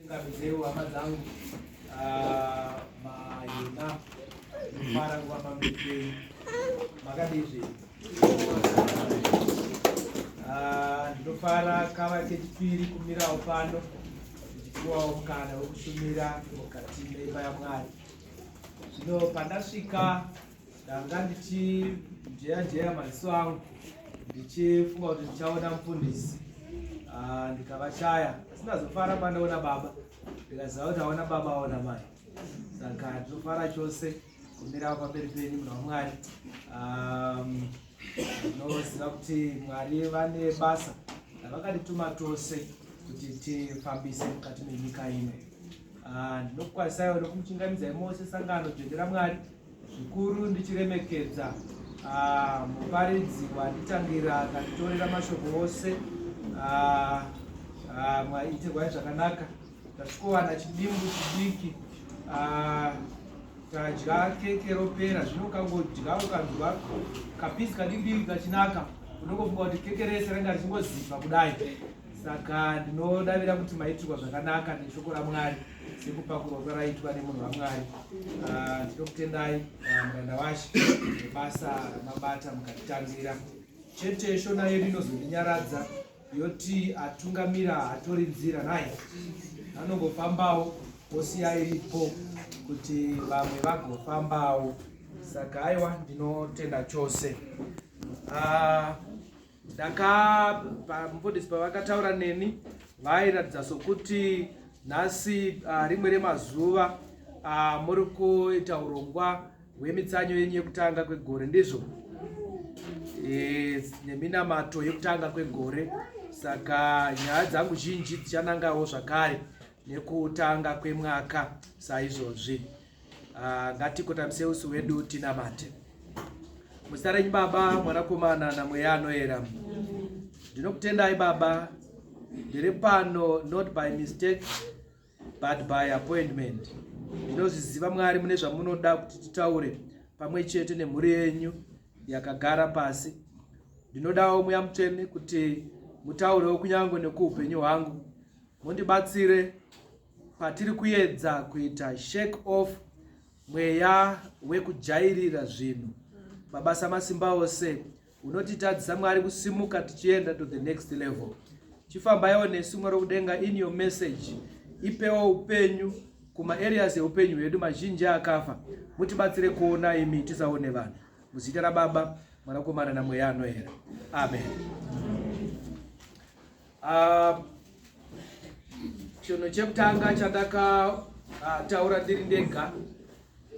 Tingabidzewo hama dzangu ah, mahina mara kuva pamberi penyu makadizve ah, ndinofara kava kechipiri kumirawo pano ndichipiwawo mukana wekushumira mukati meimba yamwari zvino pandasvika ndanga ndichijeya jeya maziso angu ndichifunga kuti ndichaona mufundisi ah, ndikavashaya asi ndazofara pandaona baba ndikaziva kuti aona baba aona mai saka ndinofara chose kumira pamberi penyu muna wamwari ndinoziva um, kuti mwari vane basa ravakatituma tose kuti tifambise mukati menyika ino ah, ndinokukwanisaiwo nokumuchingamidzai mose sangano dzvendera mwari zvikuru ndichiremekedza ah, muparidzi wanditangira akanditorera mashoko ose ah, ah, mwaitirwai zvakanaka tasvikowana chidimbu chidiki tadya keke ropera zvino ukangodya ukanzwa kapizi kadikidiki kachinaka unongofunga kuti keke rese ranga richingoziva kudai saka ndinodavira kuti maitirwa zvakanaka neshoko ramwari sekupakurwa kwaraitwa nemunhu wamwari ah, ndinokutendai ah, muranda washe nebasa ramabata mukatitangira chete shona yedu inozondinyaradza yoti atungamira hatori nzira naye anongofambawo osiya iripo kuti vamwe vagofambawo saka aiwa ndinotenda chose ah, ndakabva mufundisi pavakataura neni vairatidza sokuti nhasi uh, rimwe remazuva uh, muri kuita urongwa hwemitsanyo yenyu yekutanga kwegore ndizvo e, neminamato yekutanga kwegore saka nyaya dzangu zhinji dzichanangawo zvakare nekutanga kwemwaka saizvozvi Ah, ngatikotamisa usu wedu tinamate muzita renyu baba mwanakomana namweya anoera ndinokutendai baba ndiri pano not by mistake but by appointment ndinozviziva mwari mune zvamunoda kuti titaure pamwe chete nemhuri yenyu yakagara pasi ndinodawo mweya mutsvene kuti mutaurewo kunyange nekuupenyu hwangu mundibatsire Patiri kuedza kuita shake off mweya wekujairira zvinhu, Baba Samasimba ose unotitadzisa Mwari kusimuka tichienda to the next level. Chifambaiwo nesu Mwari wekudenga in your message. Ipewo upenyu kuma areas eupenyu hwedu mazhinji akafa. Mutibatsire kuona imi tisaone vanhu. Muzita raBaba, Mwanakomana naMweya Anoera. Amen. Uh, chinhu chekutanga chandakataura ah, uh, ndiri ndega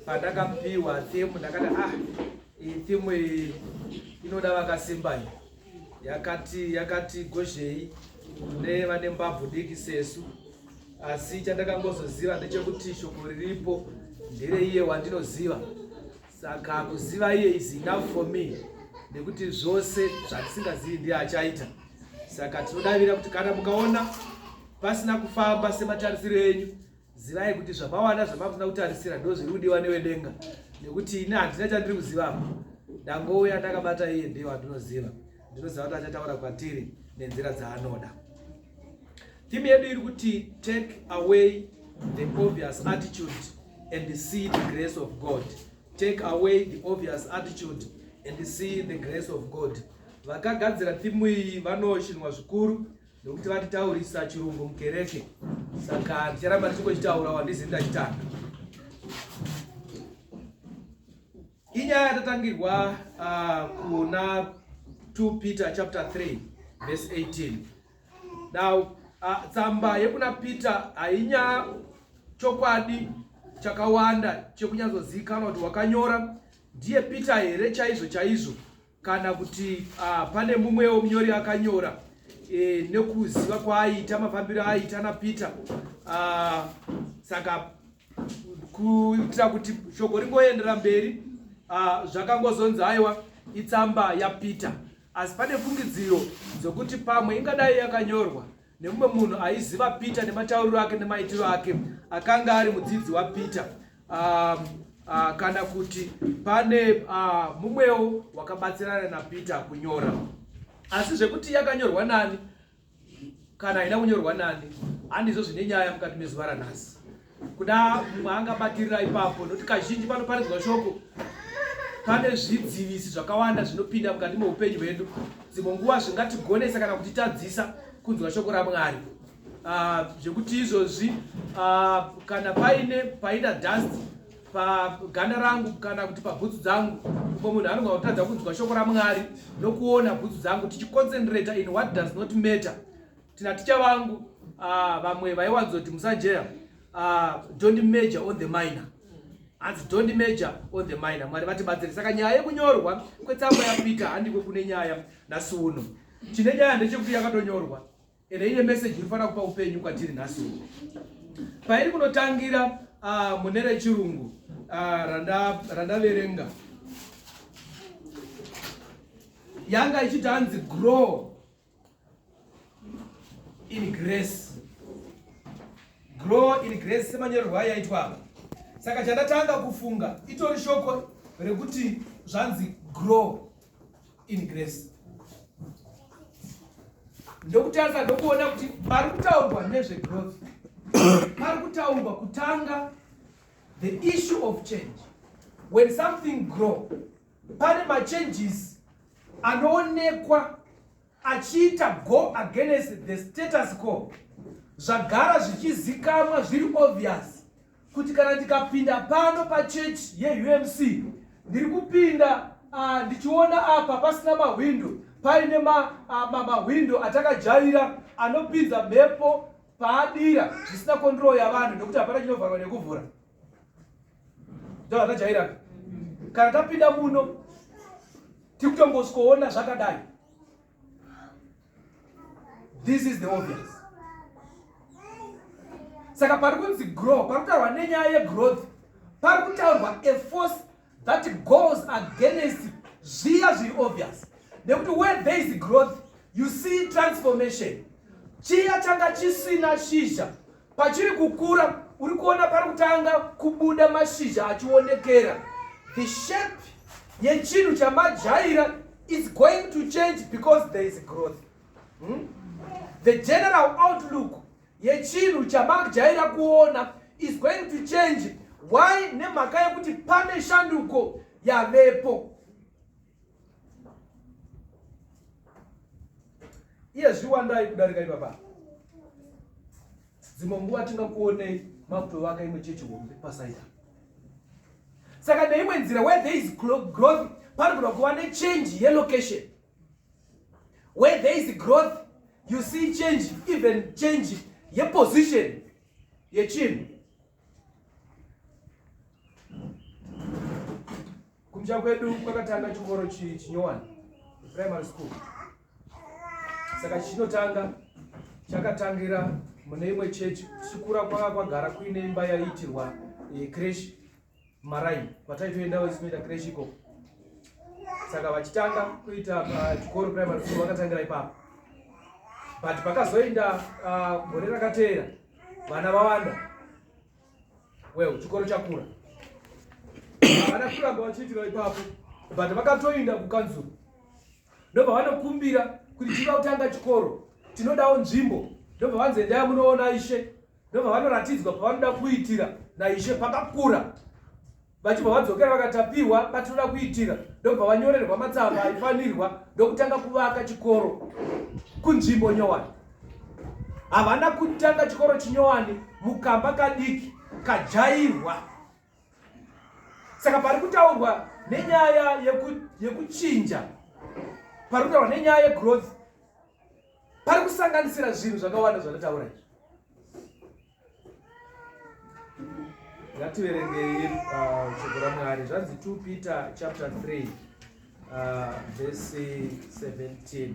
pandakapiwa theme ndakati ah iyi theme iyi inoda vakasimba iyi yakati yakati gozhei kune vane mbabvu diki sesu asi chandakangozoziva ndechekuti shoko riripo ndere iye wandinoziva saka kuziva iye is enough for me nekuti zvose zvatisingazivi ndiye achaita saka tinodavira kuti kana mukaona pasina kufamba sematarisiro enyu zivai kuti zvamawana zvamakusina kutarisira ndo zviri kudiwa newedenga nekuti ini handina chandiri kuziva apa ndangouya ndakabata iye ndiye wandinoziva ndinoziva kuti achataura kwatiri nenzira dzaanoda Theme yedu iri kuti take away the obvious attitude and see the grace of God. Take away the obvious attitude and see the grace of God. Vakagadzira thimu iyi vanoshinwa zvikuru nekuti vatitaurisa chirungu mukereke saka ndicharamba tichingochitaura wandizi ndachitanga Inyaya yatatangirwa uh, kuna 2 Peter chapter 3 verse 18. Now uh, tsamba yekuna Peter hainya chokwadi chakawanda chekunyatsozikana kuti wakanyora ndiye Peter here chaizvo chaizvo kana kuti uh, pane mumwewo munyori akanyora e, nekuziva kwaaita mafambiro aaita napeter uh, saka kuitira kuti shoko ringoendera mberi uh, zvakangozonzi aiwa itsamba yapeter asi pane fungidziro dzokuti pamwe ingadai yakanyorwa nemumwe munhu aiziva peter nematauriro ake nemaitiro ake akanga ari mudzidzi wapeter um, uh, kana kuti pane uh, mumwewo wakabatsirana napeter kunyora asi zvekuti yakanyorwa nani kana haina kunyorwa nani handizvo zvine nyaya mukati mezuva ranhasi kuda mumwe angabatirira ipapo nokuti kazhinji panoparidzwa shoko pane zvidzivisi zvakawanda zvinopinda mukati meupenyu hwedu dzimwe nguva zvingatigonesa kana kutitadzisa kunzwa shoko ramwari ah, zvekuti uh, izvozvi uh, kana paine paida dust paganda rangu kana kuti pabhutsu dzangu ko munhu anogona kutadza kunzwa shoko ramwari nokuona bhutsu dzangu tichiconcentrata in what does not matter tina ticha vangu uh, vamwe vaiwanzoti musajeya uh, don't major on the minor hanzi don't major on the minor mwari vatibatsire saka nyaya yekunyorwa kwetsamba yapeter handiko kune nyaya nhasi uno chine nyaya ndechekuti yakatonyorwa ende ine meseji inofanira kupa upenyu kwatiri nhasi uno pairi kunotangira uh, mune rechirungu uh, randaverenga randa yanga ichiti hanzi grow in grace grow in grace semanyorerwa yaitwa apa saka chandatanga kufunga itori shoko rekuti zvanzi grow in grace ndokutarisa ndokuona kuti pari kutaurwa nezvegrowth pari kutaurwa kutanga the issue of change when something grow pane machanges anoonekwa achiita go against the status quo zvagara zvichizikamwa zviri obvious kuti kana ndikapinda pano pachechi yeumc ndiri kupinda ah, ndichiona uh, apa pasina mahwindo paine mahwindo uh, atakajaira anopinza mhepo paadira zvisina kondroo yavanhu nekuti hapana chinovharwa nekuvhura zvakajairana kana tapinda muno tiri kutongosikoona zvakadai this is the obvious saka pari kunzi grow pari kutaurwa nenyaya yegrowth pari kutaurwa a force that goes against zviya zviri obvious nekuti where there is growth you see transformation chiya changa chisina shizha Pachiri kukura uri kuona pari kutanga kubuda mashizha achionekera. The shape yechinhu chamajaira is going to change because there is growth. Hmm? The general outlook yechinhu chamajaira kuona is going to change why nemhaka yekuti pane shanduko yavepo iye zviwandai kudarika ipapa dzimwe nguva tingakuonei makutovaka imwe chechi hombe pasaida saka neimwe nzira where there is growth panogona kuva nechange yelocation where there is growth you see change even change yeposition yechinhu Kumja kwedu kwakatanga chikoro chinyowani primary school, saka chinotanga chakatangira mune imwe chechi. Chikura kwanga kwagara kuine imba yaiitirwa eh, creche maraini kwataitoendawo isinoita creche ikoko saka vachitanga kuita uh, chikoro primary school vakatangira ipapo but pakazoenda uh, gore rakateera vana vawanda well chikoro chakura havana kuramba vachiitira ipapo but vakatoinda kukanzuru ndobva vanokumbira kuti tiva kutanga chikoro tinodawo nzvimbo ndobva vanzi endaya munoona ishe ndovavanoratidzwa pavanoda kuitira naishe pakakura vachibva vadzokera vakatapiwa patinoda kuitira ndobva vanyorerwa matsamba aifanirwa ndokutanga kuvaka chikoro kunzvimbo nyowani havana kutanga chikoro chinyowani mukamba kadiki kajairwa saka pari kutaurwa nenyaya yekuchinja pari kutaurwa nenyaya yegrowth pari kusanganisira zvinhu zvakawanda zvandataura izvi ngativerengei uh, shoko ramwari zvanzi 2 peter chapter 3 uh, vese 17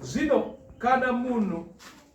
zvino kana munhu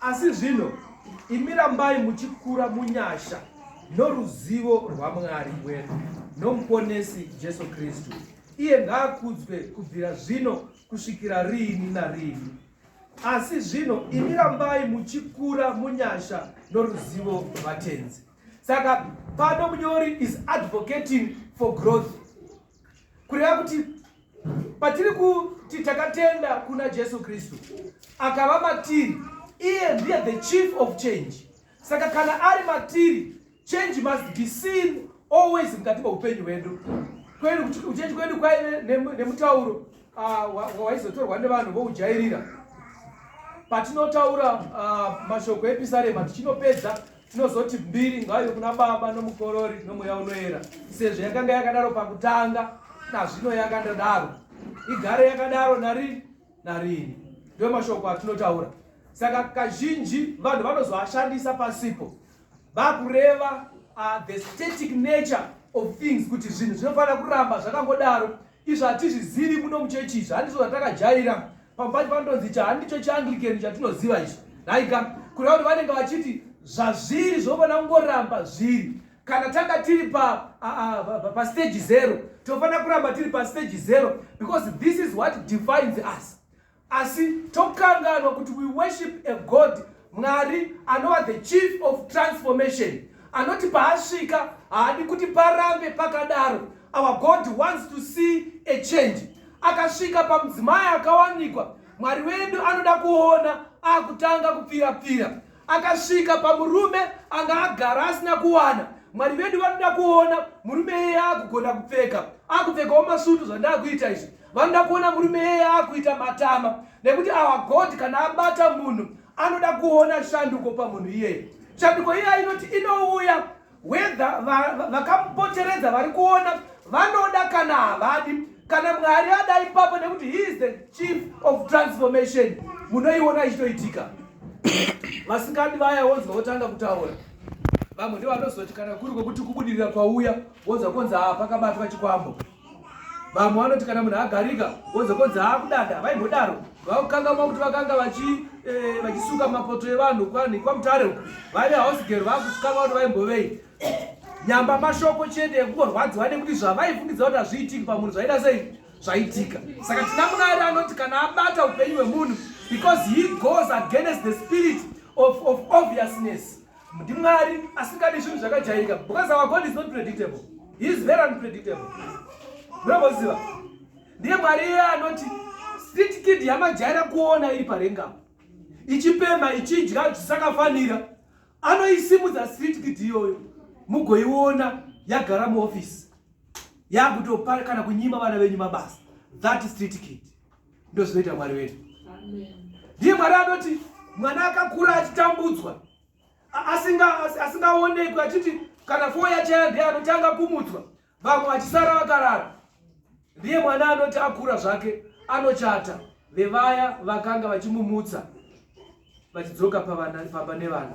asi zvino imi rambai muchikura munyasha noruzivo rwamwari wedu nomuponesi jesu kristu iye ngaakudzwe kubvira zvino kusvikira riini nariini asi zvino imi rambai muchikura munyasha noruzivo rwatenzi saka pano munyori is advocating for growth kureva kuti patiri kuti takatenda kuna jesu kristu akava matiri iye ndiye the chief of change saka kana ari matiri change must be seen always mukati meupenyu hwedu kwedu kuchenji kwedu kwaive nemutauro ah, waizotorwa nevanhu voujairira patinotaura ah, mashoko episarema tichinopedza tinozoti mbiri ngaive kuna baba nomukorori nomweya unoera sezvo yakanga yakadaro pakutanga nazvino yakandadaro igare yakadaro narini narini ndiyo mashoko atinotaura saka kazhinji vanhu vanozoashandisa pasipo vakureva uh, the static nature of things kuti zvinhu zvinofanira kuramba zvakangodaro izvo hatizvizivi muno muchechi izvi handizo zvatakajaira Pambati panonzi cha handicho chiAnglican chatinoziva ichi. Haika kureva kuti vanenge vachiti zvazviri zvofanira kungoramba zviri. Kana tanga tiri pa pa stage zero, tofanira kuramba tiri pa stage zero because this is what defines us. Asi tokanganwa kuti we worship a God Mwari anova the chief of transformation anoti paasvika haadi kuti parambe pakadaro our god wants to see a change akasvika pamudzimai akawanikwa mwari wedu anoda kuona akutanga kupfira pfira akasvika pamurume anga agara asina kuwana mwari vedu vanoda kuona murume iyeye akugona kupfeka akupfekawo masutu zvandakuita izvi vanoda kuona murume yeye akuita matama nekuti our god kana abata munhu anoda kuona shanduko pamunhu iyeye shanduko iyeya inoti inouya wedha vakamupoteredza vari kuona vanoda kana havadi kana mwari ada ipapo nekuti he is the chief of transformation munoiona ichitoitika vasikadi vaya wonzwa votanga kutaura vamwe ndivanozoti kana kuri kwekuti kubudirira kwauya wonzwa konzi haa pakabatwa chikwambo vamwe vanoti kana munhu agarika wozokonzi haakudada vaimbodaro vakukangamwa kuti vakanga eh, vachisuka e, mapoto evanhu kwani kwamutare uku vaive hausgero vakusukanwa kuti vaimbovei nyamba mashoko chete ekungorwadziwa nekuti zvavaifungidza kuti hazviitiki pamunhu zvaida sei zvaitika saka tina munari anoti kana abata upenyu hwemunhu because he goes against the spirit of, of obviousness ndimwari asingadi zvinhu zvakajairika because our god is not predictable he is very unpredictable munomboziva ndiye mwari iye anoti street kid yamajaira kuona iri parenga ichipemha ichidya zvisakafanira anoisimudza street kid iyoyo mugoiona yagara muofisi yakutopa kana kunyima vana venyu mabasa that street kid ndozvinoita mwari wedu ndiye mwari anoti mwana akakura achitambudzwa asingaonekwi achiti kana foo yachaya ndiye anotanga kumudzwa vamwe vachisara vakarara ndiye mwana anoti akura zvake anochata vevaya vakanga vachimumutsa vachidzoka pamba nevana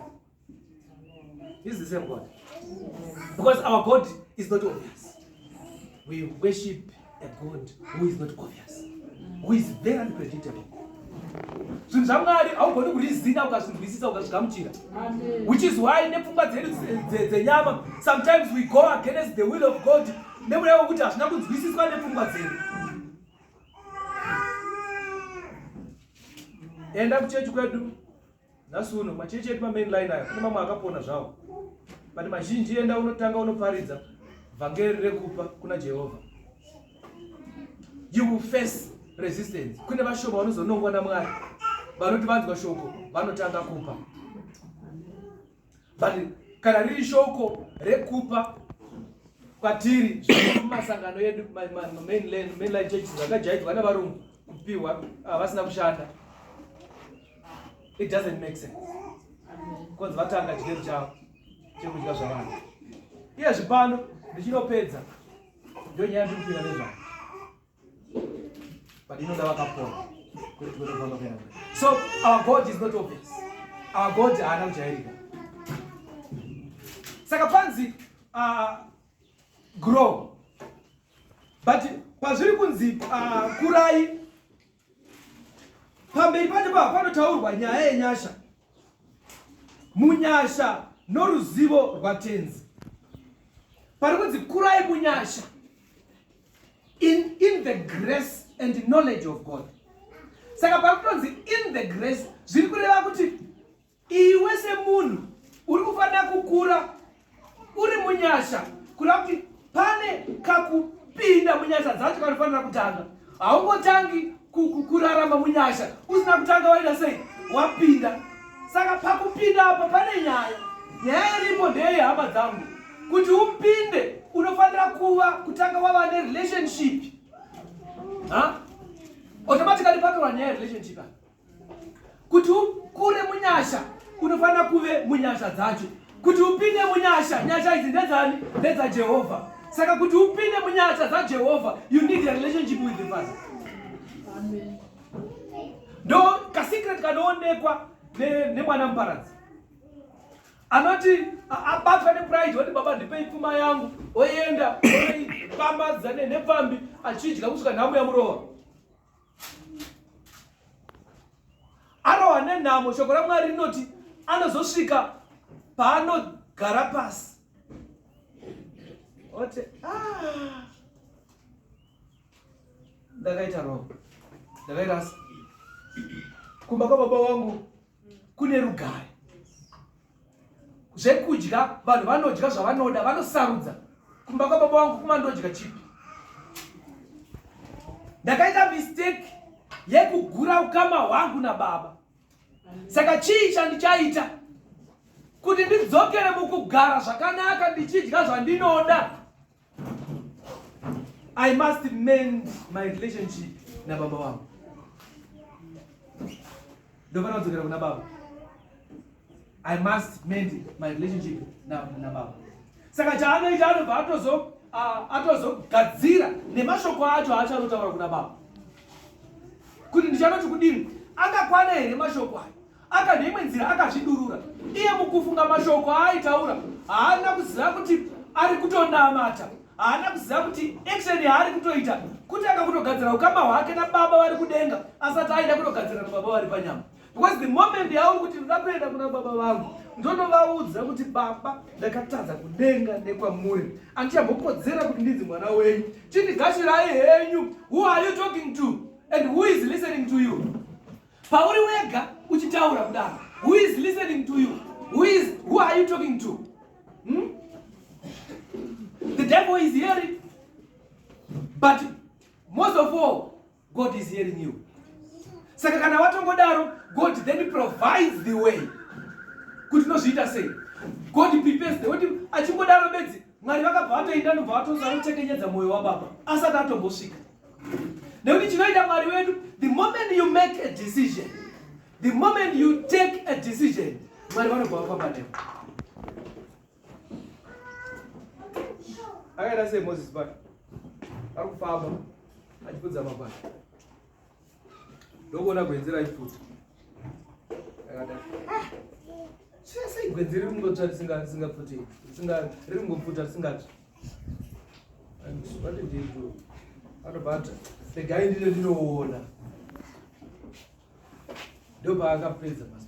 This is the same God. Because our God is not obvious. We worship a God who is not obvious, who is very unpredictable. zvinhu zvamwari haugoni kurizina ukazvinzwisisa ukazvigamuchira which is why nepfungwa dzedu dzenyama sometimes we go against the will of god nemuna wekuti hazvina kunzwisiswa nepfungwa dzedu enda kuchechi kwedu Nhasi uno machechi edu mamain line ayo kune mamwe akapona zvawo but mazhinji enda unotanga unoparidza vhangeri rekupa kuna jehovha you will face resistance kune vashoma vanozonongwa namwari vanoti vanzwa shoko vanotanga kupa but kana riri shoko rekupa kwatiri kumasangano edu mainline church zvakajaidzwa nevarungu kupiwa ah, vasina kushanda it doesn't make sense bcause vatanga chigero chavo chekudya zvavanhu iye zvipano ndichinopedza ndonyaya ndikupira nezvavo But you know that wakapona. So our God is not obvious. Our God haana kujairika. Saka panzi uh, grow. But pazviri kunzi uh, kurai pamberi pacho pava panotaurwa nyaya yenyasha munyasha noruzivo rwatenzi pari kunzi kurai munyasha in, in the grace and knowledge of god saka pari kutonzi in the grace zviri kureva kuti Iwe semunhu uri kufanira kukura uri munyasha kureva kuti pane kakupinda munyasha dzacho kanofanira kutanga. Haungotangi kurarama munyasha usina kutanga waita sei wapinda. Saka pakupinda apa pane nyaya. Nyaya iripo ndeye hama dzangu kuti upinde unofanira kuva kutanga wava nerelationship. Huh? Automatically patorwa nyaya yerelationship apa. kuti ukure munyasha unofanira kuve munyasha dzacho kuti upinde munyasha nyasha idzi ndedzani ndedzajehovha saka kuti upinde munyasha dzajehovha you need a relationship with the father ndo kasecret kanoonekwa nemwana ne muparadzi anoti abatwa nepride woti baba ndipei pfuma yangu oenda oipambadza nepfambi achidya kusvika nhamu yamurowa arohwa nenhamo shoko ramwari rinoti anozosvika paanogara pasi ote ah. ndakaita roho ndakaita asi kumba kwababa wangu kune rugare zvekudya vanhu vanodya zvavanoda vanosarudza kumba kwababa wangu kuma ndodya chipi ndakaita mistake yekugura ukama hwangu nababa saka chii chandichaita kuti ndidzokere mukugara zvakanaka ndichidya zvandinoda I must mend my relationship na baba wangu. Ndofana kudzokera kuna baba. I must mend my relationship na na baba. Saka chaanoita anobva atozo atozogadzira nemashoko acho aachanotaura kuna baba kuti ndichanoti kudini akakwana here mashoko ayo Aka neimwe nzira akazvidurura iye mukufunga mashoko aaitaura haana kuziva kuti ari kutonamata haana kuziva kuti action yaari kutoita kutanga kutogadzira ukama hwake nababa vari kudenga asati aida kutogadzira nababa vari panyama because the moment yauri kuti ndoda kuenda kuna baba vangu ndonovaudza kuti baba ndakatadza kudenga nekwamuri andichambokodzera kuti ndinzi mwana wenyu chindigashirayi henyu who are you talking to and who is listening to you Pauri wega uchitaura kudaro. Who is listening to you? Who is who are you talking to? Hmm? The devil is hearing. But most of all, God is hearing you. Saka kana watongodaro, God then provides the way. Kuti nozviita sei? God prepares the way. Achingodaro bedzi Mwari vakabva vatoinda ndobva vatoza kutekenyedza mwoyo wababa asati atombosvika nekuti chinoita mwari wedu the moment you make a decision the moment you take a decision mwari vanobva vafamba newe akaita sei moses bana ari kufamba achipudza mabana Ndokuona gwenzi raipfuta. Ndakadaro. Ah! Sei sei gwenzi riri kungotsva risinga risingapfuti. Risinga riri kungopfuta risingatsvi. And what did you do? Anobata. Regai ndine ndinoona. Ndopaakapedza basa.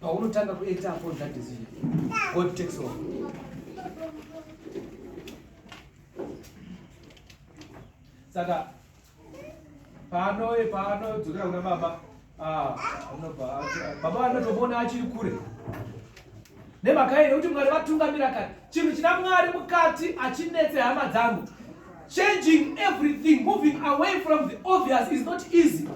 paunotanga kuita upon that decision god takes over saka pano e pano dzokera kuna baba ah, anobva baba vanotomona achiri kure nemhaka ine kuti mwari vatungamira kati chinhu china mwari mukati achinetse hama dzangu changing everything moving away from the obvious is not easy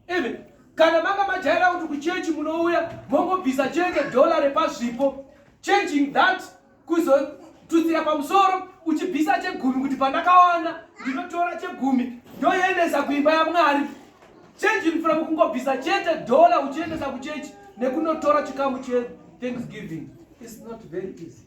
even kana manga majaira kuti kuchechi munouya mongobvisa chete dhola repazvipo changing that kuzotutsira pamusoro uchibvisa chegumi kuti pandakawana ndinotora chegumi ndoendesa kuimba yamwari changing from kungobvisa chete dhola uchiendesa kuchechi nekunotora chikamu chethanksgiving is not very easy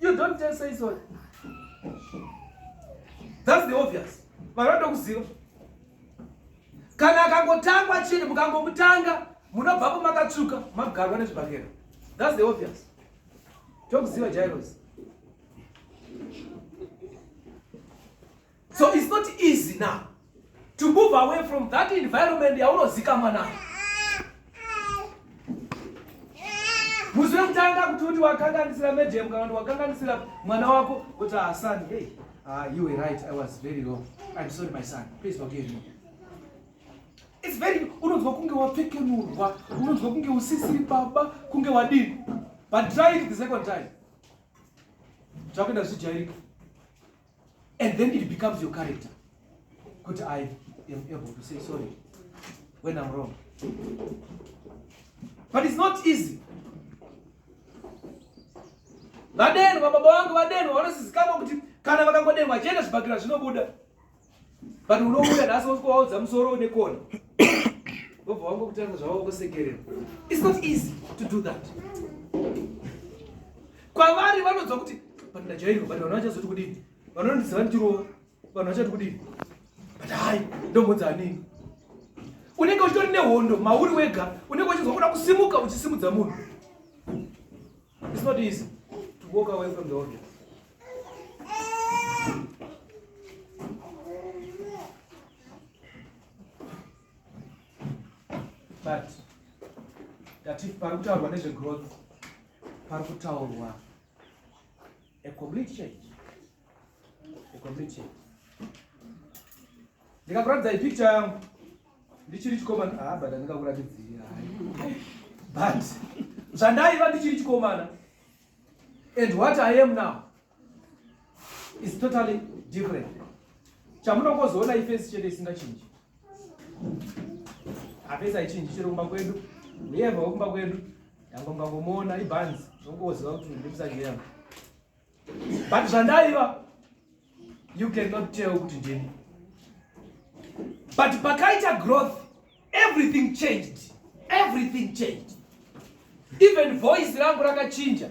You don't tell say sorry. That's the obvious. Vanoda kuziva. Kana akangotangwa chini mukangomutanga munobvapo makatsvuka magarwa nezvibhakera. That's the obvious. Tokuziva Jairos. so it's not easy now to move away from that environment yaunozikamwa nayo musi wekutanga kuti uti wakanganisira medium kana kuti wakanganisira mwana wako kuti asan ah, hey uh, you were right i was very wrong i'm sorry my son please forgive me it's very unonzwa kunge wapfekenurwa unonzwa kunge usisiri baba kunge wadini but try it the second time zvakuenda zvijairika and then it becomes your character kuti i am able to say sorry when i'm wrong but it's not easy vadenwa baba vangu vadenwa vanosizikamwa kuti kana vakangodenwa achienda zvibhakira zvinobuda but unouya nhasi wosikowaudza musoro une kona vobva wangu kutanga zvavo kusekerera it's not easy to do that Kwavari vanonzwa kuti but ndajairwa but vanhu vachazoti kudini? Vanhu vanondiziva ndichirova. Vanhu vachati kudini? But hayi ndombodza anini? Unenge uchitori nehondo mauri wega unenge uchinzwa kuda kusimuka uchisimudza munhu. It's not easy to walk away from the audience. but ndati pari kutaurwa nezvegrowth pari kutaurwa a complete change a complete change ndikakuratidza ipicture yangu ndichiri chikomana ah but andingakuratidzii hai but zvandaiva ndichiri chikomana and what i am now is totally different chamunongozoona ifesi chete isingachinji hapesi haichinji chero kumba kwedu uyeva wekumba kwedu yango mbangomuona ibhanzi zvongoziva kuti ndimusajera but zvandaiva you cannot tell kuti ndini but pakaita growth everything changed everything changed even voice rangu rakachinja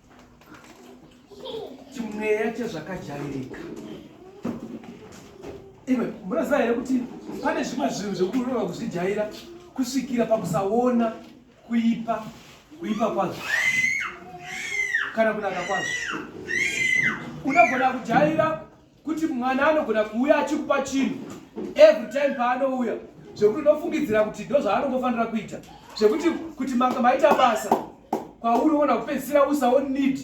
chimweya chezvakajairika imwe munoziva here kuti pane zvimwe zvinhu zvekurova kuzvijaira kusvikira pakusaona kuipa kuipa kwazvo kana kunaka kwazvo unogona kujaira kuti mwana anogona kuuya achikupa chinhu every time paanouya zvekuti unofungidzira kuti ndo zvaanongofanira kuita zvekuti kuti manga maita basa kwauri uona kupedzisira usawo need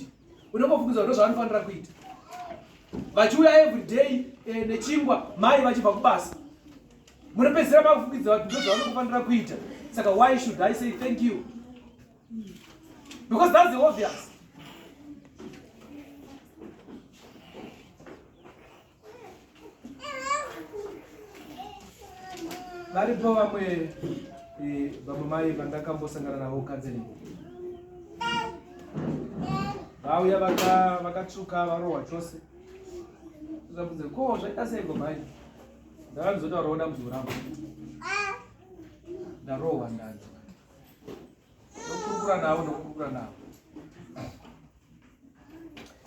unongofungidzira ndo zvaanofanira kuita vachiuya every day eh, nechingwa mai vachibva kubasa munopedzisira makufungidzira kuti ndo zvaanongofanira kuita saka why should i say thank you Because that's the obvious. varipo vamwe eh, vamwe mai vandakambosangana navo counseling vauya vakatsvuka varohwa chose zvabvunze ko zvaita seiko mai ndakandizotaurawo dambudziko rangu ndarohwa ndanzi ndokurukura navo ndokurukura navo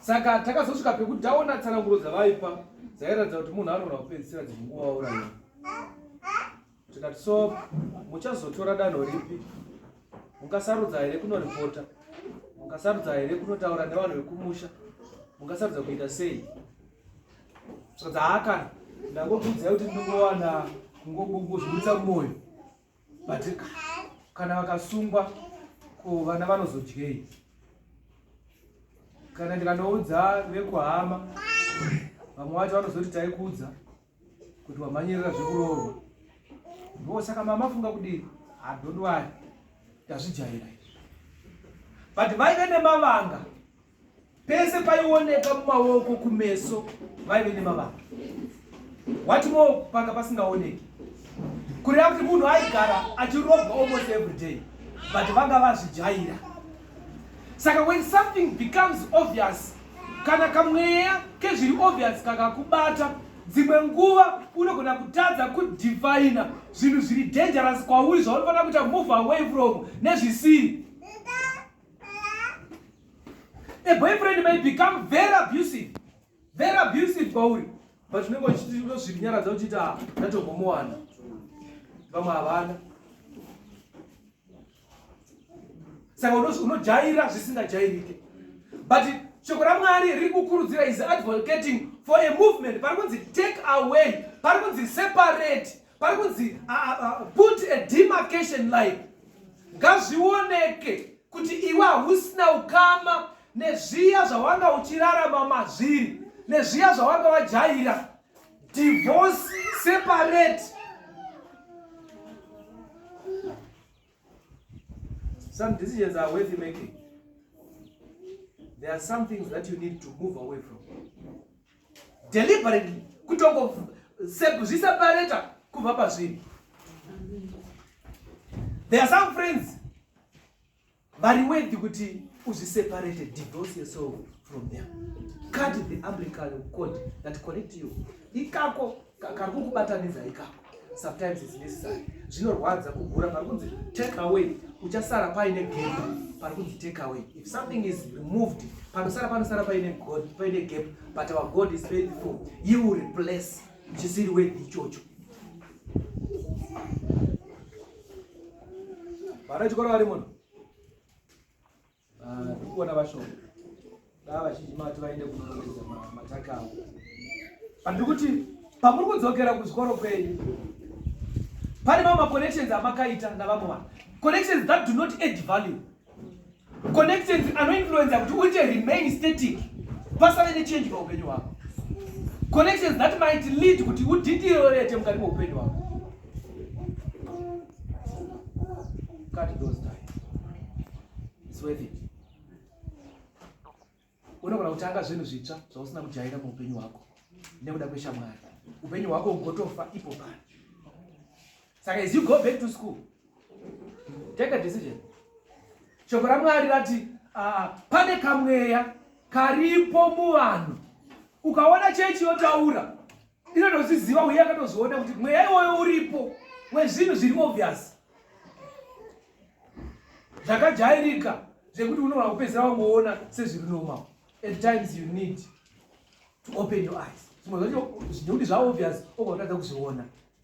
saka takazosvika pekuti taona tsananguro dzavaipa dzairatidza kuti munhu anoona kupedzisira dzinguva wauraya tikati so muchazotora danho ripi mungasarudza here kunoripota mungasarudza here kunotaura nevanhu vekumusha mungasarudza kuita sei saka dzaakana ndangokuudzai kuti ndinongowana kungozviburitsa mumwoyo but kana vakasungwa ko vana vanozodyei kana ndikanoudza vekuhama vamwe vacho vanozoti taikudza kuti wamhanyirira zvekuroorwa ndo saka mama funga kudii adondwari tazvijaira but vaive nemavanga pese paioneka mumaoko kumeso vaive nemavanga wati mo panga pasingaoneki kureva kuti munhu aigara achirobwa almost every day but vanga vazvijaira saka when something becomes obvious kana kamweya kezviri obvious kakakubata dzimwe nguva unogona kutadza kudivhaina zvinhu zviri dangerous kwauri zvauri fanira kuita move away from nezvisiri a boyfriend may become very abusive very abusive kwauri but unenge uchitozvirinyaradza uchiti a ndatombomuwana vamwe havana saka unojaira zvisingajairike but shoko ramwari riri kukurudzira is advocating for a movement pari kunzi take away pari kunzi separate pari kunzi put a demarcation line ngazvioneke kuti iwe hausina ukama nezviya zvawanga uchirarama mazviri nezviya zvawanga wajaira divorce separate some decisions are worth making there are some things that you need to move away from deliberately kutongozviseparata kubva pazviri there are some friends vari wedhi kuti uzviseparate divorce yourself from them cut the umbilical cord that connect you ikako kari kukubatanidza ikako sometimes is necessary zvinorwadza kugura pari kunzi take away uchasara paine gap pari kunzi take away if something is removed panosara panosara paine god paine gap but our god is faithful he will replace chisiri wedhi ichocho vana chikoro vari muno Ah, ndiri kuona vashoma daa vazhinji mati vaende kunoongeza mataka avo handiri kuti pamuri kudzokera kuzvikoro kwenyu pane mamwe maconnections amakaita navamwe vanhu connections that do not add value connections anoinfluenza kuti uite remain static pasave nechange paupenyu hwako connections that might lead kuti udindirorete mukati meupenyu hwako It's worth it. Unogona kutanga zvinhu zvitsva zvausina kujaira muupenyu hwako nekuda kweshamwari. Upenyu hwako ugotofa ipo pano. Saka as you go back to school, take a decision. Shoko raMwari rati uh, pane kamweya karipo muvanhu. Ukaona chechi yotaura inotozviziva uye akatozoona kuti mweya iwoyo uripo wezvinhu zviri obvious zvakajairika zvekuti unogona kupedzera wangoona sezviri normal at times you need to open your eyes zvimwe zvacho zvineuti zvaobvious ogona kutadza kuzviona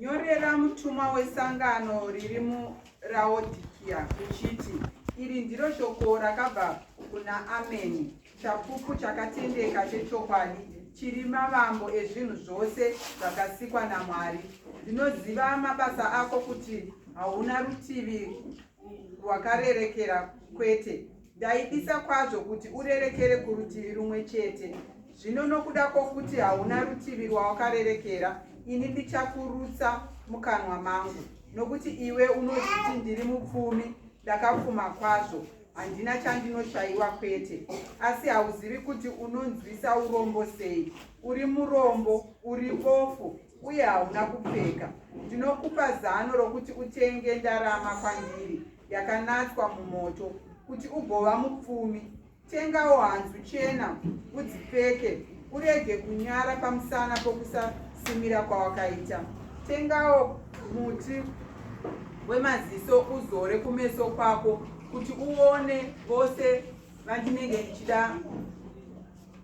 Nyorera mutumwa wesangano riri muRaodikia uchiti, Iri ndiro shoko rakabva kuna Ameni, chapupu chakatendeka chechokwadi, chiri mavambo ezvinhu zvose zvakasikwa naMwari. Ndinoziva mabasa ako kuti hauna rutivi rwakarerekera kwete, Ndaidisa kwazvo kuti urerekere kurutivi rumwe chete. Zvino nokuda kwokuti hauna rutivi rwawakarerekera, ini ndichakurutsa mukanwa mangu. Nokuti iwe unozviti ndiri mupfumi, ndakapfuma kwazvo, handina chandinoshayiwa kwete. Asi hauzivi kuti unonzwisa urombo sei. Uri murombo, uri bofu, uye hauna kupfeka, ndinokupa zano rokuti utenge ndarama kwandiri yakanatswa mumoto, kuti ugova mupfumi. Tengawo hanzu chena udzipfeke, urege kunyara pamusana pokusasimira kwawakaita. Tengawo muti wemaziso uzore kumeso kwako, kuti uone vose vandinenge ndichida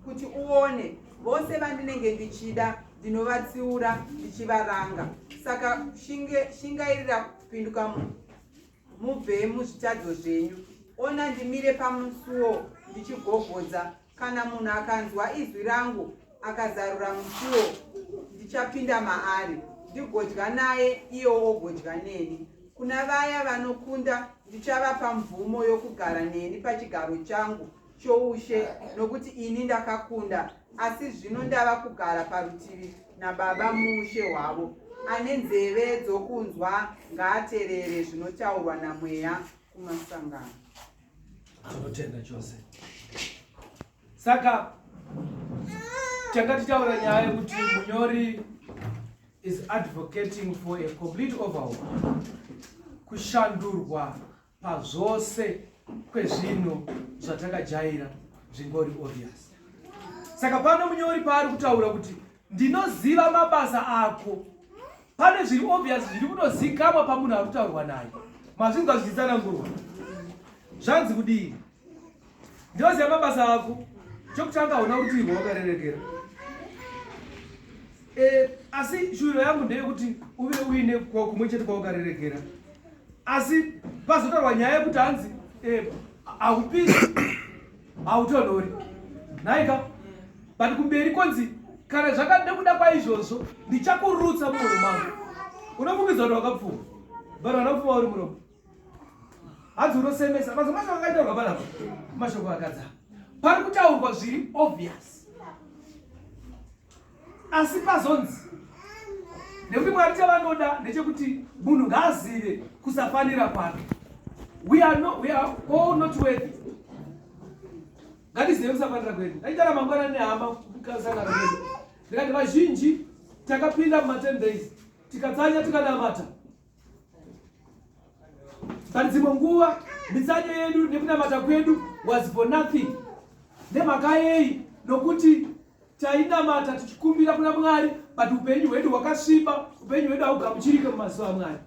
kuti uone vose vandinenge ndichida ndinovatsiura ndichivaranga saka shinge, shingairira kupinduka mubve muzvitadzo zvenyu ona ndimire pamusuwo ndichigogodza kana munhu akanzwa izwi rangu akazarura musuwo ndichapinda maari ndigodya naye iye wogodya neni kuna vaya vanokunda ndichavapa mvumo yokugara neni pachigaro changu choushe nokuti ini ndakakunda asi zvino ndava kugara parutivi nababa muushe hwavo ane nzeve dzokunzwa ngaaterere zvinotaurwa namweya kumasangano anotenda chose saka tanga titaura nyaya yekuti munyori is advocating for a complete overhaul kushandurwa pazvose kwezvinhu zvatakajaira zvingori obvious saka pano munyori paari kutaura kuti ndinoziva mabasa ako pane zviri obvious zviri kutozikamwa pamunhu ari kutaurwa naye mazvinzwa zvichitsanangurwa zvanzi kudii Ndoziva mabasa ako. Chokutanga hauna kuti ivo wakarerekera. Eh, asi shuviro yangu ndeyekuti uve uine kumwe chete kwaukarerekera. Asi pazotorwa nyaya yekuti hanzi eh, haupisi hautonhori. Nhaika, but kumberi konzi kana zvakade kuda kwaizvozvo ndichakurutsa muhuro mangu unofungiza kuti wakapfuma but wanapfuma uri muromo hanzi unosemesa mazvo mashoko akaitaurwa panapa mashoko akadza pari kutaurwa zviri obvious asi pazonzi nekuti mwari chavanoda ndechekuti munhu ngaazive kusafanira kwake we are no, we are all not worthy ngatizive kusafanira kwedu ndaitara mangwana nehama kusangana kwedu ndikati vazhinji takapinda mumaten days tikatsanya tikanamata Pane dzimwe nguva mitsanyo yedu nekunamata kwedu was for nothing. Nemhaka yei? Nokuti tainamata tichikumbira kuna Mwari, but upenyu hwedu hwakasviba, upenyu hwedu haugamuchirike mumazuva aMwari.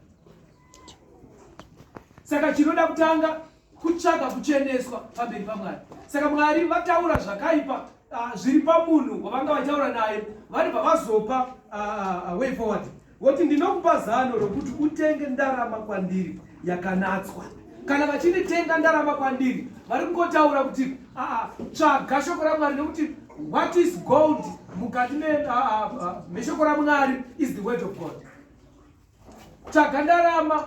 Saka chinoda kutanga kutsvaga kucheneswa pamberi pamwari saka mwari vataura zvakaipa uh, zviri pamunhu wavanga vataura naye vanobva vazopa uh, way forward voti ndinokupa zano rokuti utenge ndarama kwandiri yakanatswa kana vachinditenga ndarama kwandiri vari kungotaura kuti aa tsvaga shoko ramwari nekuti what is gold mukati meshoko ramwari is the word of god tsvaga ndarama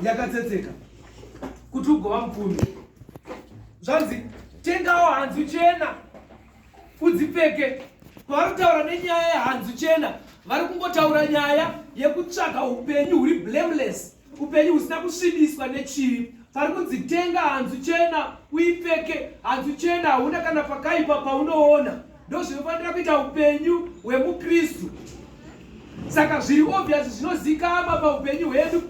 yakatsetseka kuti ugova mupfumi zvanzi tengawo hanzu chena udzipfeke pavari kutaura nenyaya yehanzu chena vari kungotaura nyaya yekutsvaga upenyu huri blameless upenyu husina kusvibiswa nechivi pari kudzitenga hanzu chena uipfeke hanzu chena hauna kana pakaipa paunoona ndozvinofanira kuita upenyu hwemukristu saka zviri obvious zvinozikama paupenyu hwedu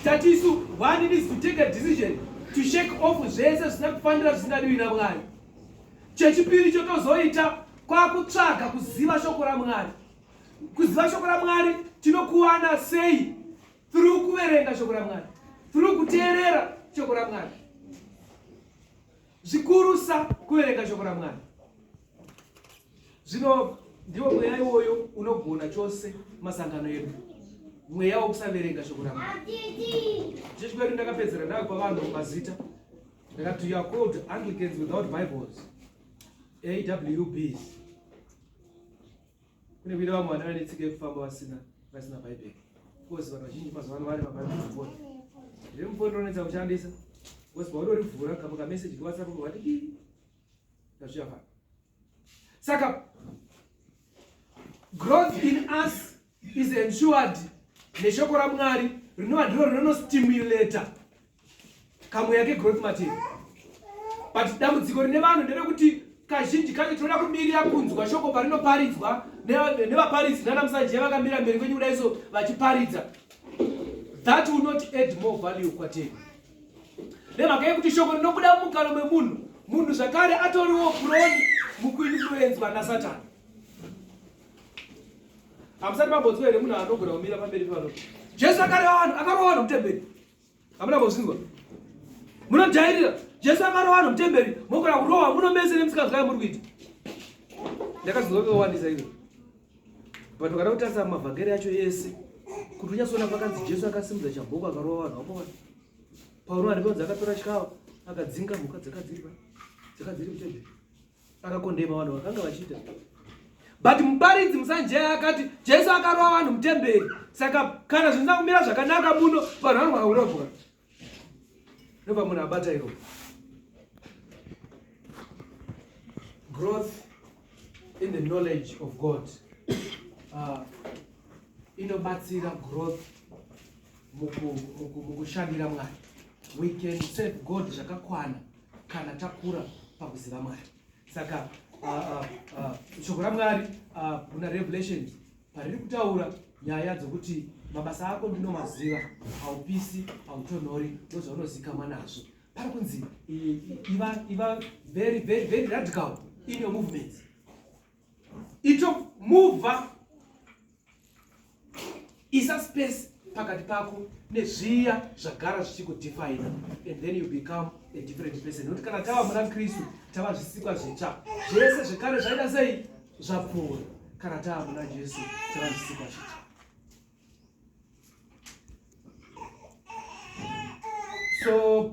tati isu one needs to take a decision to shake off zvese zvisina kufanira zvisingadiwi namwari chechipiri chotozoita kwakutsvaga kuziva shoko ramwari kuziva shoko ramwari tinokuwana sei through kuverenga shoko ramwari through kuteerera shoko ramwari zvikurusa kuverenga shoko ramwari zvino ndiwo mweya iwoyo unogona chose masangano edu mweya wokusaverenga shoko ramwari chechi kwedu ndakapedzera ndayo kwavanhu mazita ndakati youare called anglicans without bibles awbs Kune vile vamwe vana vane tsika yekufamba vasina vasina Bhaibheri. Kozi vanhu vazhinji mazuva ano vane mabhaibheri mufoni. Riri mufoni rinonetsa kushandisa. Kozi paudorivhura kamwe kameseji kewhatsapp kuvati ki tazviya pano. Saka growth in us is ensured neshoko raMwari rinova ndiro rinonostimulata kamweya kegrowth materi but dambudziko rine vanhu nderekuti kazhinji kacho tinoda kumirira kunzwa shoko parinoparidzwa nevaparidzi nana musanje vakamira mberi kwenyu kuda iso vachiparidza that will not add more value kwatei nemhaka yekuti shoko rinobuda mumukano memunhu munhu zvakare atoriwo broni mukuinfluenzwa nasatani hamusati mambonzwa here munhu anogona kumira pamberi pano jesu akareva vanhu akarova vanhu mutemberi hamuna kuzvinzwa munojairira jesu akarova vanhu mutemberi mokona kurova muno mese nemusikazwa yamuri kuita ndakazvinzwa kekawandisa ivo but ukada kutarisa mavhangeri yacho yese kuti unyatsoona pakanzi jesu akasimudza chamboko akarova vanhu vakowana pauro arikonzi akatora chikawa akadzinga mhuka dzakadziripa dzakadziri mutemberi akakondema vanhu vakanga vachiita but muparidzi musanjaya akati jesu akarova vanhu mutemberi saka kana zvinza kumira zvakanaka muno vanhu vanogona kurobwa ndopa munhu abata iro growth in the knowledge of god uh, inobatsira growth mukushandira mwari we can serve god zvakakwana kana takura pakuziva mwari saka ah, ah, ah, shoko uh, uh, uh, ramwari kuna uh, revelation pariri kutaura nyaya dzokuti mabasa ako ndinomaziva haupisi hautonhori ndozvaunozikamwa nazvo pari kunzi iva iva very very very radical in your movements ito muvha isa space pakati pako nezviya zvagara zvichikudefina and then you become a different person nokuti kana tava muna kristu tava zvisikwa zvitsva zvese zvekare zvaida sei zvapfuura kana tava muna jesu tava zvisikwa zvitsva so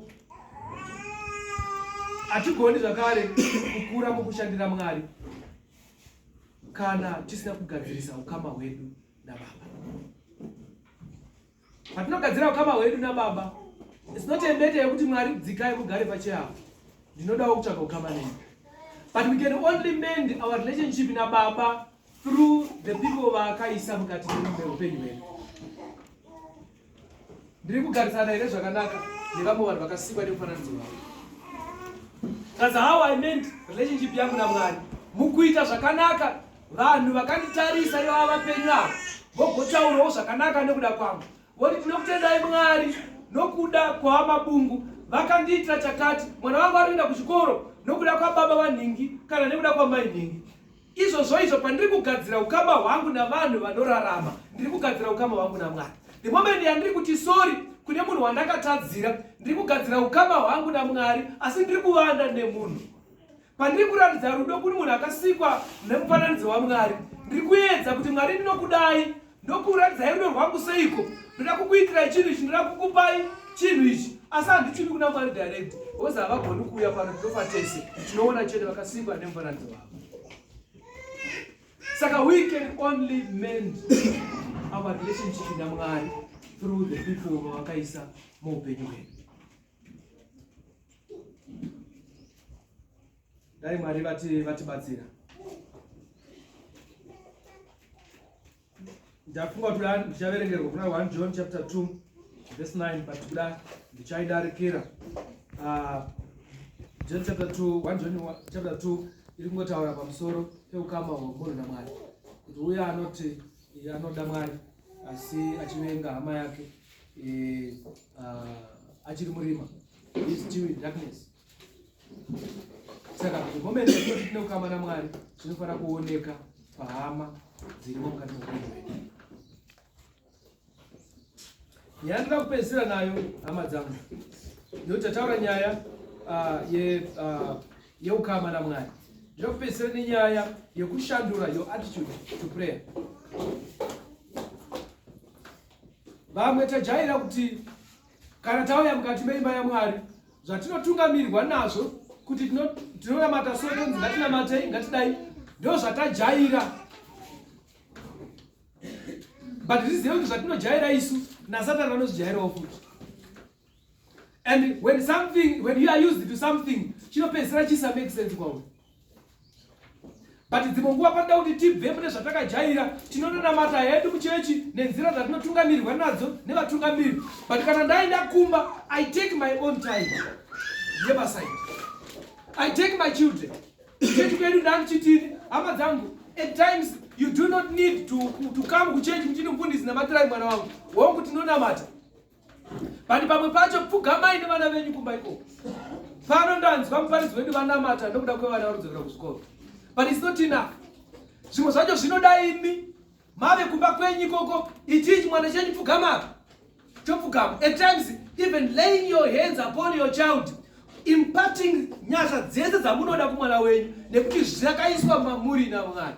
hatigoni zvakare kukura mukushandira mwari kana tisina kugadzirisa ukama hwedu nababa patinogadzira ukama hwedu nababa sinochembete yekuti mwari dzikai mugare pacheavo ndinodawo kutsvaga ukama nei but we can only mend our relationship nababa through the people vaakaisa mukati meupenyu hwedu ndiri kugarisana here zvakanaka nevamwe vanhu vakasikwa nemufananidzo wavo thats how i meant relationship yangu namwari mukuita zvakanaka vanhu vakanditarisa ivava vapenyu avo vogotaurawo zvakanaka nekuda kwangu voti tinokutendai mwari nokuda kwavamabungu vakandiitira chakati mwana vangu ari kuenda kuchikoro nokuda kwababa vanhingi kana nekuda kwamai nhingi Izvozvo izvo pandiri kugadzira ukama hwangu navanhu vanorarama, ndiri kugadzira ukama hwangu naMwari. The moment yandiri kuti sorry kune munhu wandakatadzira, ndiri kugadzira ukama hwangu naMwari, asi ndiri kuvanda nemunhu. Pandiri kuratidza rudo kune munhu akasikwa nemufananidzo waMwari, ndiri kuedza kuti Mwari ndinokudai Ndokuratidzai rudo rwangu seiko? Ndoda kukuitirai chinhu ichi, ndoda kukupai chinhu ichi, asi handichumi kuna Mwari direct. Hozi havagoni kuuya pano, tinofa tese. Tinoona chete vakasikwa nemufananidzo wavo. Saka we can only mend our relationship naMwari through the people vavakaisa muupenyu hwedu. Dai Mwari vati vatibatsira. Ndafunga kuti kuda ndichaverengerwa kuna 1 John chapter 2 verse 9 but kuda ndichaidarikira. Uh, John chapter 2, 1 John chapter 2 iri kungotaura pamusoro peukama hwemunhu naMwari. Kuti uye anoti anoda Mwari asi achivenga hama yake eh, uh, achiri murima. He's still in darkness. saka momene kuti tine kukama namwari zvinofanira kuoneka pahama dzirimo mukati meupenyu hwedu nyaya ndinoda kupedzisira nayo hama dzangu nekuti tataura nyaya ah, ah, yeukama namwari ndinoda kupedzisira nenyaya yekushandura your attitude to prayer vamwe tajaira kuti Kana tauya mukati meimba yaMwari, zvatinotungamirwa nazvo kuti tinonamata so tonzi ngatinamatei ngatidai ndo zvatajaira but zvizive kuti zvatinojaira isu nasatani anozvijairawo futi and when something when you are used to something chinopedzisira chisa make sense kwauri but dzimwe nguva panoda kuti tibve mune zvatakajaira tinononamata hedu muchechi nenzira dzatinotungamirirwa nadzo nevatungamiri but kana ndaenda kumba i take my own time yebasai i take my children chechi kwedu ndandichitini hama dzangu at times you do not need to, to come kuchechi muchini mfundisi namatirai mwana wangu hongu tinonamata Bani pamwe pacho pfugamai nevana venyu kumba ikoko. Pano ndanzwa muparidzi wedu vanamata ndokuda kwevana varudzokera kuzvikoro. But it's not enough. Zvimwe zvacho zvinoda imi mave kumba kwenyu ikoko itii chimwana chenyu pfugama chopfugama. At times even laying your hands upon your child imparting nyasha dzese dzamunoda kumwana wenyu nekuti zvakaiswa mamuri namwari.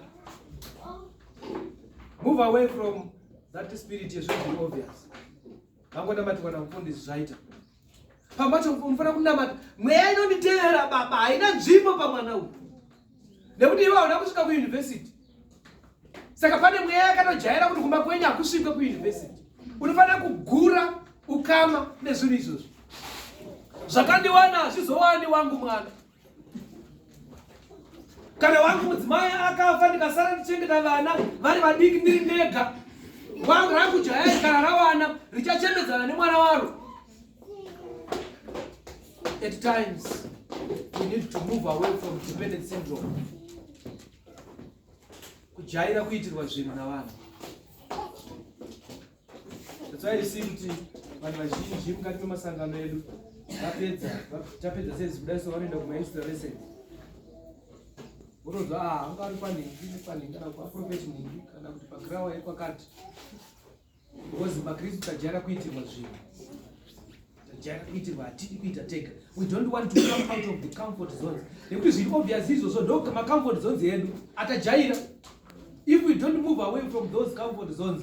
Move away from That spirit is very obvious. Vangoda mati wana kupondi zvaita. Pambacho unofana kunamata. Mweya inonditeera baba haina nzvimbo pamwana uyu. Nekuti iwe hauna kusvika kuuniversity. Saka pane mweya yakatojaira kuti kumba kwenyu hakusvike kuuniversity. Unofanira kugura ukama nezvinhu izvozvo. Zvakandiwana hazvizowani wangu mwana. kana wangu mudzimai akafa ndikasara ndichengeta vana vari vadiki ndiri ndega wangu rangu jaya kana rawana richachembedzana nemwana waro at times we need to move away from dependent syndrome kujaira kuitirwa zvinhu navanhu That's why you see kuti vanhu vazhinji mukati memasangano edu vapedza tapedza sezi kudai so vanoenda kumainsta vese votoza ah, anga ari kwanhingi nekwanhingi kana kuaprofeti nhingi kana kuti pagrawa ekwakati because makristu tajara kuitirwa zvinhu tajara kuitirwa hatidi kuita tega we don't want to come out of the comfort zones nekuti zviri obvious izvozvo ndo macomfort zones edu atajaira if we don't move away from those comfort zones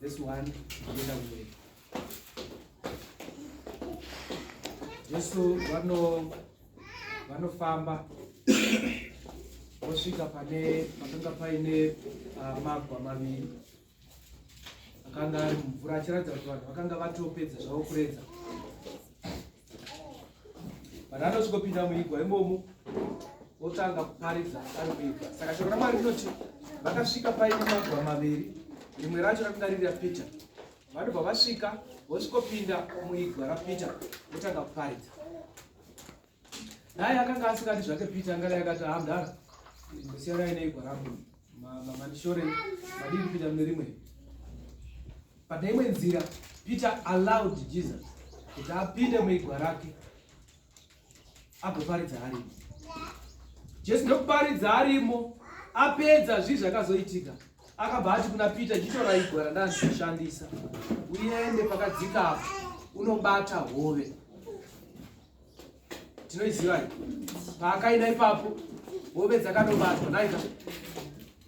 This one, ndienda kumberi. Jesu vano vanofamba vosvika pane pakanga paine uh, magwa maviri akanga ari mumvura achiratidza kuti vanhu vakanga vatopedza zvavo kuredza vanhu vanosvikopinda muigwa imomo otanga kuparidza ari kuigwa saka shoko ramwari rinoti vakasvika paine magwa maviri rimwe racho rakanga riri rapeter vanobva vasvika vosvikopinda muigwa rapeter votanga kuparidza naye akanga asingati zvake peter angadai akati hamdara ah, ndosiyanai neigwa rangu mandishore madii kupinda mune rimwe pane imwe nzira peter allowed jesus kuti apinde muigwa rake agoparidza arimo jesu ndokuparidza arimo apedza zvii zvakazoitika akabva ati kuna peter nditora igwa randazoshandisa uende pakadzika apo unobata hove tinoiziva paakaida ipapo hove dzakanobatwa naika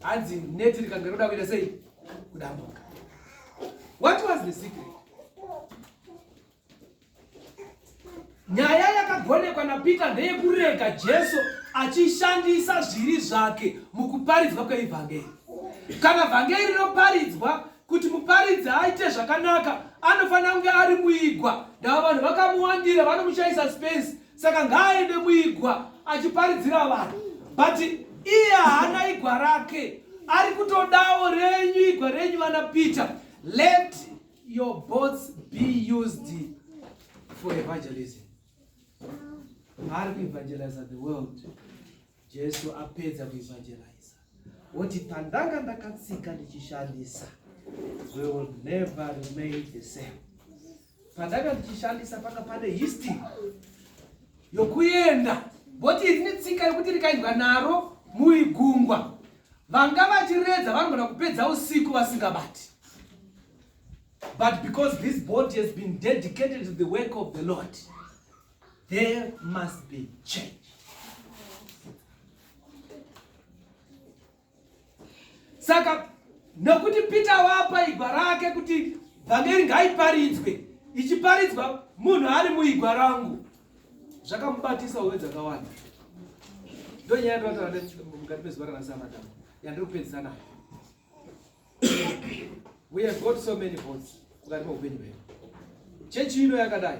hanzi neti rikange roda kuita sei kudambuka what was the secret nyaya yakagonekwa napeter ndeyekurega jesu achishandisa zviri zvake mukuparidzwa kweivhangeri kana vhangeri rinoparidzwa Kuti muparidzi aite zvakanaka anofanira kunge ari muigwa. Ndava vanhu vakamuwandira vanomushaisa space, saka ngaaende muigwa achiparidzira vanhu. But iye haana igwa rake, ari kutodawo renyu igwa renyu vana Peter. Let your boats be used for evangelism. Ari kuevangeliza the world. Jesu apedza kuevangeliza woti pandanga ndakatsika ndichishandisa we will never remain the same. Pandanga ndichishandisa panga pane history yokuenda boti rine tsika yokuti rikaendwa naro muigungwa vanga vachiredza vanogona kupedza usiku vasingabati but because this body has been dedicated to the work of the lord There must be change. Saka nokuti Peter wapa igwa rake kuti vhangeri ngaiparidzwe ichiparidzwa munhu ari muigwa rangu zvakamubatisa hove dzakawanda ndonyaya ndinotaura mukati mezuva ranasamatam yandiri kupedzisa nayo we have got so many votes mukati meupenyu hwedu chechi ino yakadai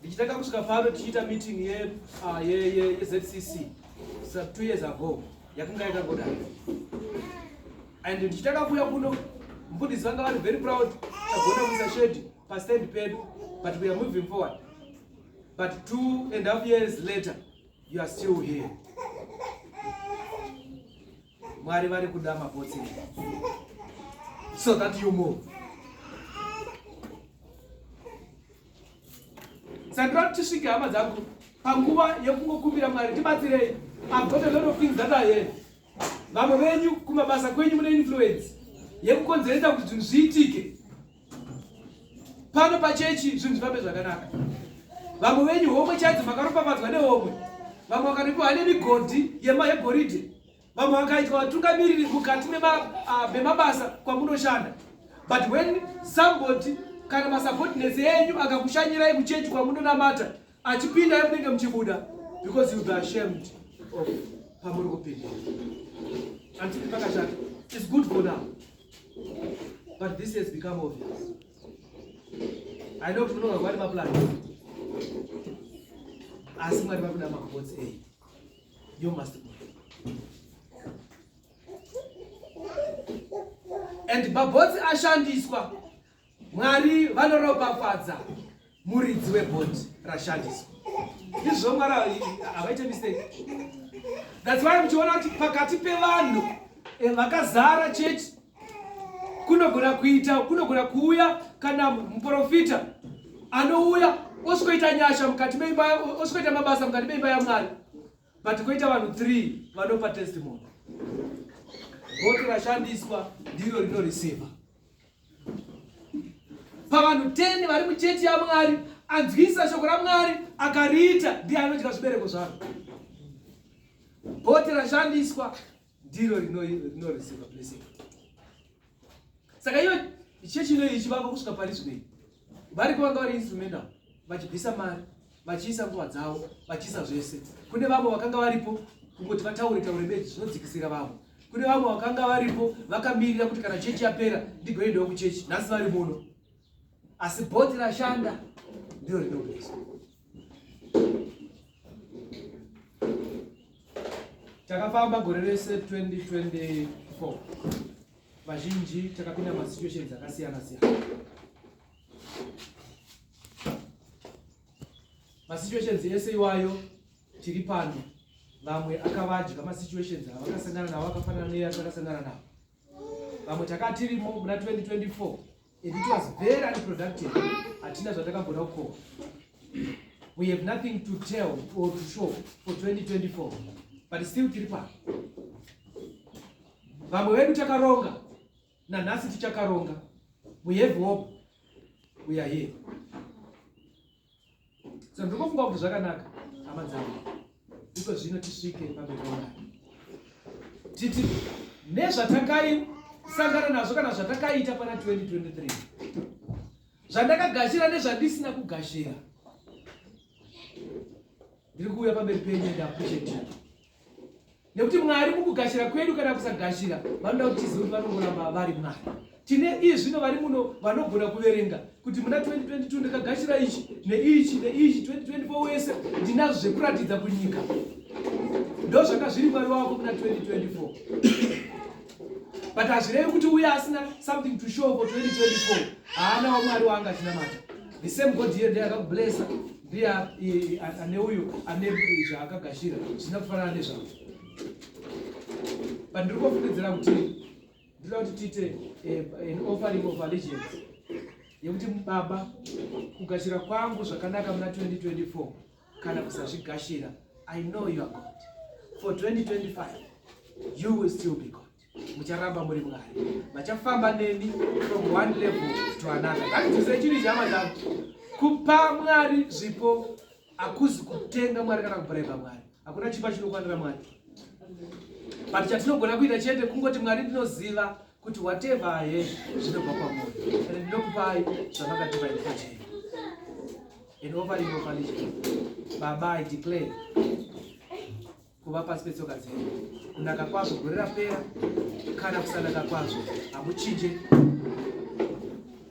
ndichitanga kusvika pano tichiita meeting yezcc ye, ye, two years ago yakanga yakangodai and ndichitanga kuuya kuno mfundisi vanga vari very proud tagona kuisa shedi pastand pedu but we are moving forward but two and half years later you are still here Mwari vari kuda mabotsi so that you move. Sandra tisvike hama dzangu panguva yekungokumbira Mwari tibatsirei. I've got a lot of things that I have. Vamwe venyu kumabasa kwenyu mune influence yekukonzeresa kuti zvinhu zviitike. pano pachechi zvinhu zvifambe zvakanaka vamwe venyu homwe chaidzo makaropafadzwa nehomwe vamwe vakanopiwa nemigodhi yema yegoridhe vamwe vakaitwa vatungamiriri mukati memabasa ah, kwamunoshanda but when somebody kana masubordinates enyu akakushanyirai kuchechi kwamunonamata achipinda yemunenge muchibuda because you be ashamed of pamuri kupinda andii pakashata is good for now But this has become obvious. I know kuti munonga kwari maplan asi mwari vari kuda macots a you must go and mabhotsi ashandiswa Mwari vanoropafadza muridzi webhoti rashandiswa izvo mwari havaite mistake thats why muchiona kuti pakati pevanhu eh, vakazara chechi kunogona kuita kunogona kuuya kana muprofita anouya osvikoita nyasha mukati meimba osvikoita mabasa mukati meimba yamwari but koita vanhu three vanopa testimony voti rashandiswa ndiro rinoriseva pavanhu 10 vari muchechi yamwari anzwisa shoko ramwari akariita ndiye anodya zvibereko zvaro bhote rashandiswa ndiro rinoreceiva blessing saka iyo chechi inoyi ichivako kusvika pari zvinei variko vanga vari instrumental vachibvisa mari vachiisa nguva dzavo vachiisa zvese kune vamwe vakanga varipo kungoti vataure taure bedzi zvinodzikisira vamwe kune vamwe vakanga varipo vakamirira kuti kana chechi yapera ndigoendawo kuchechi nhasi vari muno asi bhodhi rashanda ndiro rinobesa takafamba gore rese 2024 vazhinji takapinda masituations akasiyana siyana masituations ese iwayo tiri pano vamwe akavadya masituations avakasangana navo akafanana neye atakasangana navo vamwe takatirimo muna 2024 and it was very unproductive hatina zvatakagona kukoa we have nothing to tell or to show for 2024 but still tiri pano vamwe vedu takaronga nanhasi tichakaronga we have hope we are here so ndikofunga kuti zvakanaka hama dzangu iko zvino tisvike pambekomai titi nezvatakaisangana nazvo kana zvatakaita pana 2023 zvandakagashira nezvandisina kugashira ndiri kuuya pamberi penyu ndakuchetira nekuti mwari mukugashira kwedu kana kusagashira vanoda kuti tizive kuti vanongoramba vari mwari tine iyi zvino vari muno vanogona kuverenga kuti muna 2022 ndakagashira ichi neichi neichi 2024 wese ndinazvo zvekuratidza kunyika ndo zvanga zviri mwari wako muna 2024 but hazvirevi kuti uye asina something to show for 2024 haana wamwari waanga chinamata the same god here ndiye akakublessa ndiye ane uyo ane zvaakagashira zvisina kufanana nezvavo but ndiri kufungidzira kuti ndinoda kuti tiite eh, an offering of allegiance yekuti baba kugashira kwangu zvakanaka muna 2024 kana kusazvigashira i know you are god for 2025 you will still be god mucharamba muri mwari vachafamba neni from one level to another ngatidzise chiri chama dzangu kupa mwari zvipo hakuzi kutenga mwari kana kubraiba mwari hakuna chipa chinokwanira mwari but chatinogona kuita chete kungoti mwari ndinoziva kuti whatever ahe zvinobva kwamoyo and ndinokupai zvamakatipa ikochei and overinofanizve baba i declare kuva pasi petsoka dzenyu kunaka kwazvo gore rapera kana kusanaka kwazvo hamuchinje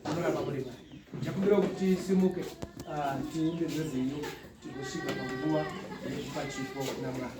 munoramba muri mai ndakumbira kuti tisimuke ah, tiumbe zvezenyu tigosvika panguva yezvipachipo namwari